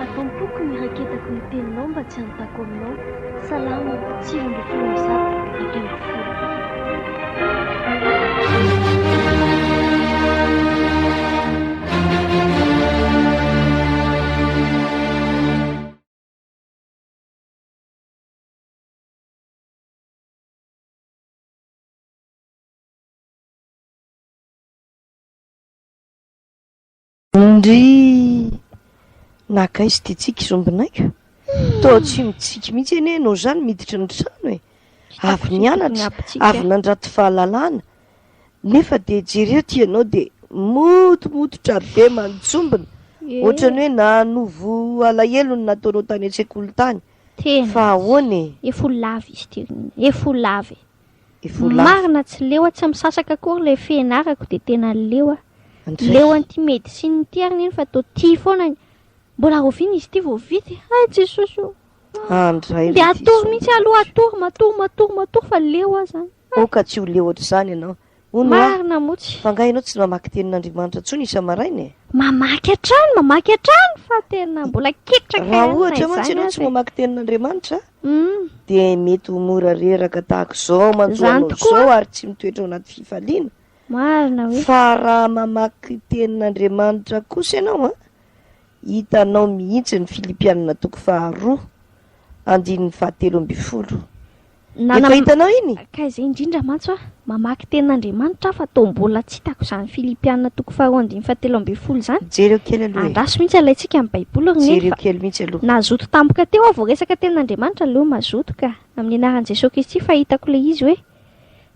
Atao am-poko ny raketako ny teninao mba tsy hanontako aminao. Salamo, sivy ambin'ny folo amby zato, dimy ambin'ny folo. Ndry! Nakaiza ity tsiky zombinaiko? Toa tsy mitsiky mihitsy anie ianao izany miditra ny trano e! Avy nianatra, avy nandrato fahalalana, nefa dia jereo ity ianao dia motomototra be manjombona, ohatran'ny hoe nanovo alahelo ny nataonao tany an-tsekoly tany. Tena, fa ahoana e? Efa ho lava izy ity ry Neny, efa ho lava e! Ivolafy. Marina tsy leo a, tsy misasaka akory ilay fianarako dia tena leo a. Ndry. Leo an'ity médecine ity ary neny fa toa tia foana ny. Mbola rahoviana izy ity vao vita e. Hay Jesosy o. Ah ndray Dia ry ty atoro mihitsy aloha, atoro, matory, matory, matory fa leo aho izany. Aoka tsy ho leo ohatr'izany ianao. Hono hoa, Marina motsy. fa angaha ianao tsy mamaky tenin'Andriamanitra intsony isa-maraina e? Mamaky hatrany, mamaky hatrany fa tena mbola ketraka Raha na ohatra mantsy izany ianao tsy aza e. mamaky tenin'Andriamanitra Hum, dia mety ho mora reraka tahaka izao mantsy ho Izany anao tokoa. izao ary tsy mitoetra ao anaty fifaliana. marina hoe. Fa raha mamaky tenin'Andriamanitra kosa ianao an, hitanao mihitsy ny Filipianina toko faharoa, andininy fahatelo ambin'ny folo. Nanam- Efa hitanao iny? Ka izay indrindra mantsy hoa, mamaky tenin'Andriamanitra aho fa toa mbola tsy hitako izany Filipiana toko faharoa andininy fahatelo ambin'ny folo izany. Jereo kely aloha e. Andraso mihitsy alaintsika amin'ny Baiboly ry Neny Jereo fa kely mihitsy aloha. nazoto tampoka teo aho vao resaka tenin'Andriamanitra aleo mazoto ka. Amin'ny anaran'i Jesoa Kristy fa hitako ilay izy hoe,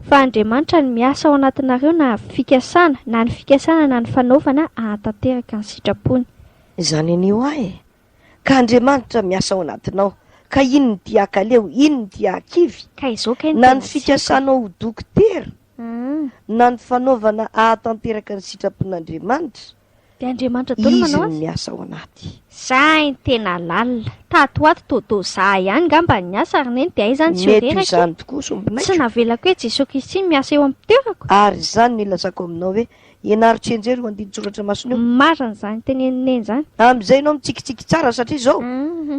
fa Andriamanitra no miasa ao anatinareo na fikasana, na ny fikasana na ny fanaovana hahatanteraka ny sitrapony. Izany anio ahy e. Ka Andriamanitra miasa ao anatinao. Ka inn ny dia akaleo, inn ny dia akivy. Ka izao kay ny tena tiako. Na ny fikasanao ho dokotera, na ny fanaovana ahatanteraka ny sitrapon'Andriamanitra, Dia Andriamanitra daholo manao azy. Izy no miasa ao anaty. Sahy ny tena lalina. Tato ho ato toa toa za ihany ngamba ny asa ary neny dia hay izany tsy ho reraka e. Mety ho izany tokoa sombinaiko. Tsy navelako hoe Jesoa Kristy no miasa eo am-pitoerako. Ary izany no ilazako aminao hoe Ianaro tsy enjery io andinin-tsoratra masina io. Marina izany tenenin'i Neny izany. Amin'izay ianao mitsikitsiky tsara satria izao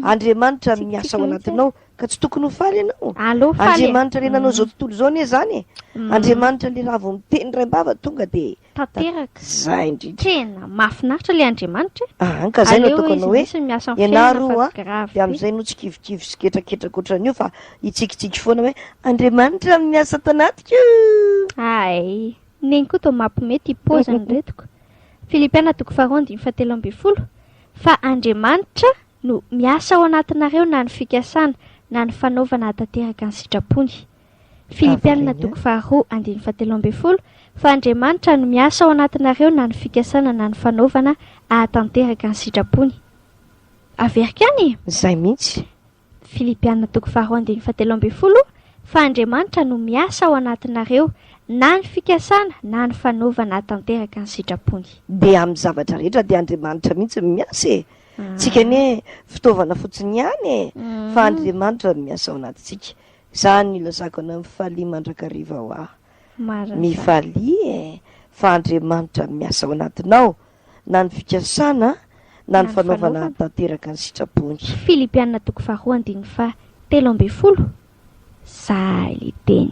Andriamanitra no miasa ao anatinao ka tsy tokony ho faly ianao. Aleo faly e. Andriamanitra le nanao izao tontolo izao anie izany e. Andriamanitra le raha vao miteny raim-bava tonga dia Tanteraka. Zay indrindra. Tena mahafinaritra le Andriamanitra e. Aa ka zay no Aleo ataoko izy anao hoe mihitsy no miasa amin'ny fiainana ianaro fa a grave dia be. amin'izay no tsy kivikivy sy ketraketraka ohatran'io fa hitsikitsiky foana hoe Andriamanitra no miasa ato anatiko. Hay. Neny koa toa mapme ty poziny retiko. Filipiana toko faharoa andininy fahatelo ambin'ny folo Fa Andriamanitra no miasa ao anatinareo na ny fikasana na ny fanaovana hahatanteraka ny sitrapony. Filipiana toko faharoa andininy fahatelo ambin'ny folo Fa Andriamanitra no miasa ao anatinareo na ny fikasana na ny fanaovana hahatanteraka ny sitrapony. Averiko ihany e! Zay mihitsy. Filipiana toko faharoa andininy fahatelo ambin'ny folo, Fa Andriamanitra no miasa ao anatinareo, na ny fikasana na ny fanaovana hahatanteraka ny sitrapony. Dia amin'ny zavatra rehetra dia Andriamanitra mihitsy no miasa e! Tsika anie fitaovana fotsiny ihany e! Fa Andriamanitra no miasa ao anatintsika. Izany no ilazako anao mifalia mandrakariva hoa. Marina izany. Mifalia e! Fa Andriamanitra no miasa ao anatinao. na ny fikasana na ny fanaovana hahatanteraka ny sitrapony. Filipiana toko faharoa andininy faha telo ambin'ny folo Zahay le teny.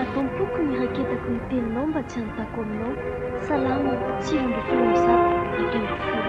Ato am-poko ny raketako ny teninao mba tsy hanontako aminao, Salamo, sivy ambin'ny folo amby zato, dimy ambin'ny folo.